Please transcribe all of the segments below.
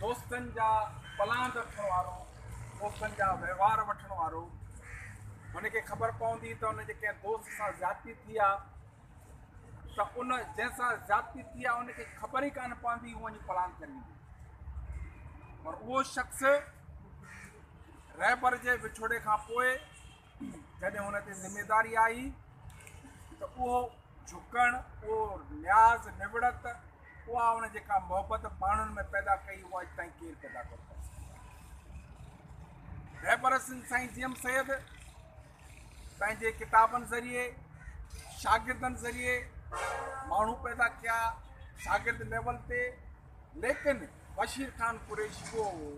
دوستن جا پلاند رکڻ وارو، دوستن جا وهنوار وٺڻ وارو، هن کي خبر پوندي ته هن جي ڪنهن دوست سان زيادتي ٿي آ ته ان جنهن سان زيادتي ٿي آ ان کي خبر ئي ڪانه پوندي هو وڃي پلاند ڪري ايندو پر اهو شخص رهبر جي وڇوڙي کان پوء جڏهن هن تي ذميداري آئي ته اهو جهڪڻ، اهو نياز، نوڙت، اها هن جيڪا محبت ماڻهن ۾ پيدا ڪئي اها اڄ تائين ڪير پيدا ڪونه ڪري سگهيو آهي. رهبر سنڌ سائين جي ايم سيد پنهنجي ڪتابن ذريعي، شاگردن ذريعي ماڻهو پيدا ڪيا، شاگرد ليول تي، ليڪن بشير خان قريشي اهو هو،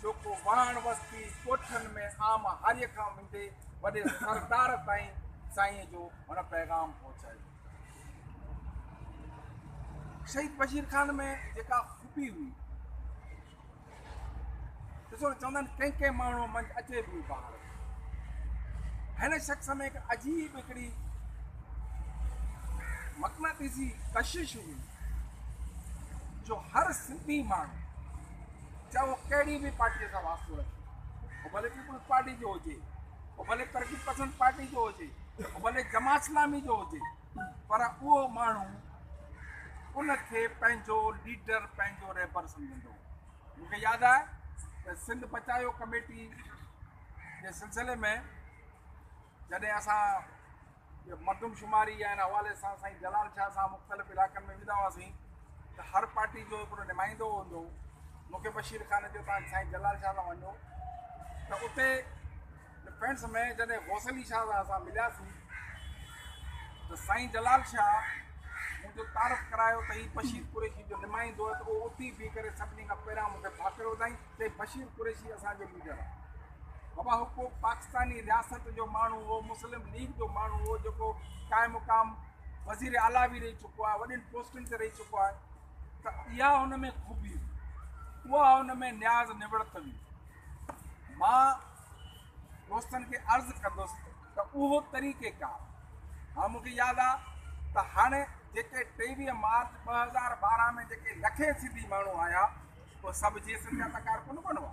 جيڪو واهڻ وستي، ڳوٺن ۾ عام هاريء کان وندي وڏي سردار تائين سائينء جو هن پيغام پهچايو. شهيد بشير خان ۾ جيڪا خوبي هئي، ڏسو ته چوندا آهن ڪنهن ڪنهن ماڻهوء منجهه اچي ٻيو بهار. هن شخص ۾ هڪ عجيب هڪڙي مقناطيسي ڪشش هئي جو هر سنڌي ماڻهو چاهي هو ڪهڙي به پارٽيء سان واسطو رکي هو ڀلي پيپلز پارٽي جو هجي هو ڀلي ترقي پسند پارٽي جو هجي هو ڀلي جماعت اسلامي جو هجي پر اهو ماڻهو ان کي پنهنجو ليڊر پنهنجو رهبر سمجهندو مون کي ياد آهي ته سنڌ پچايو ڪميٽي جي سلسلي ۾ جڏهن اسان مردم شماري يا ان حوالي سان سائين جلال شاهه صاحب مختلف علائقن ۾ ويندا هئاسين ته هر پارٽي جو هڪڙو نمائندو هوندو مون کي بشير خان جو تان سائين جلال شاهه سان وڃو ته اتي ڊفينس ۾ جڏهن غوث علي شاهه صاحب سان ملياسين ته سائين جلال شاهه مون جو تعارف ڪرايو ته هي بشير قريشي جو نمائندو آهي ته اهو اتي بيهي ڪري سڀني کان پهريان مون کي ڀاڪر وڌائين چئي بشير قريشي اسان جو ليڊر آهي بابا هو ڪو پاڪستاني رياست جو ماڻهو هو مسلم ليگ جو ماڻهو هو جيڪو قائم مقام وزير اعليٰ به رهي چڪو آهي وڏين پوسٽن تي رهي چڪو آهي ته اها هن ۾ خوبي هئي اها هن ۾ نياز نوڙت هئي مان دوستن کي عرض ڪندس ته اهو طريقي ڪار هاڻ مون کي ياد آ ته هاڻي جيڪي ٽيويهه مارچ ٻه هزار ٻارهن ۾ جيڪي لکين سنڌي ماڻهو آيا اهي سڀ جي ايس ايم جا ته ڪارڪن ڪونه هئا